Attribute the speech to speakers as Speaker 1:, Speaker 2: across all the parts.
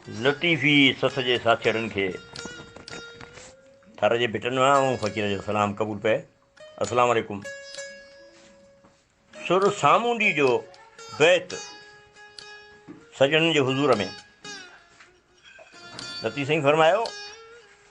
Speaker 1: لطيفي سٿ جي ساٿيئڙن کي ٿر جي ڀٽن مان ۽ فقير جو سلام قبول پئي. السلام عليڪم. سر سامونڊي جو بيت سڄڻن جي حضور ۾. لطيف سائين فرمايو.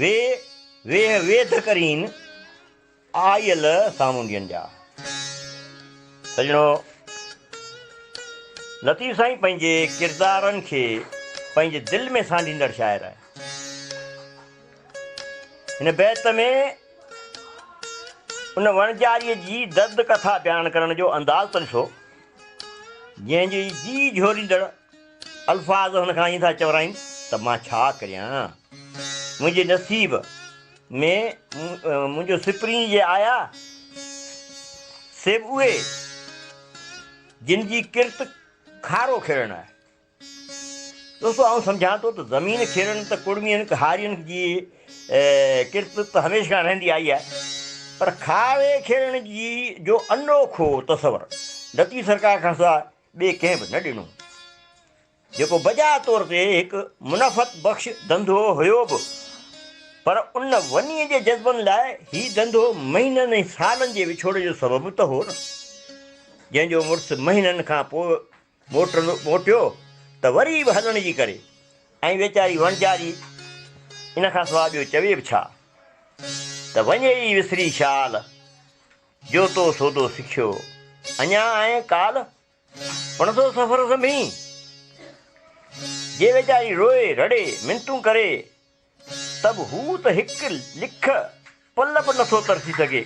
Speaker 1: وي ويهه ويڌ ڪرين، آيل سامونڊين جا. سڄڻو! لطيف سائين پنهنجي ڪردارن کي پنهنجي دل ۾ سانڍيندڙ شاعر آهي. هن بيت ۾ ان وڻجاريء جي درد ڪٿا بيان ڪرڻ جو انداز ته ڏسو، جنهن جي جيء جهوريندڙ الفاظ هن کان ائين ٿا چورائين ته مان ڇا ڪريان؟ منهنجي نصيب ۾ منهنجو سپرين جي آيا سي به اهي جن جي ڪرت کارو کيڙڻ آهي. دوستو آئون سمجهان ٿو ته زمين کيڙڻ ته ڪڙمين ڪهارين جي ڪرت ته هميشه کان رهندي آئي آهي پر کاوي کيڙڻ جي جو انوکو تصور لطيف سرڪار کان سواء ٻئي ڪنهن به نه ڏنو، جيڪو بجا طور تي هڪ منفعت بخش ڌنڌو هيو به، پر ان ونيء جي جذبن لاء هي ڌنڌو مهينن ۽ سالن جي وڇوڙي جو سبب ته هو نه. جنهن جو مڙس مهينن کان پوء موٽندو موٽيو ته وري به هلڻ جي ڪري ۽ ويچاري وڻجاري ان کان سواء ٻيو چوي به ڇا ته وڃي ئي وسري شال. جو تو سودو سکيو اڃا آهين ڪالهه پڻ ٿو سفر سنڀين جي ويچاري روئي رڙي منتون ڪري ته به هو ته هڪ لک پل به نٿو ترسي سگهي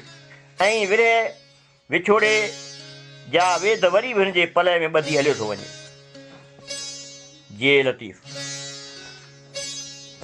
Speaker 1: ۽ ورهه وڇوڙي جا ويڌ وري به هن جي پلئه ۾ ٻڌي هليو ٿو وڃي جي لطيف.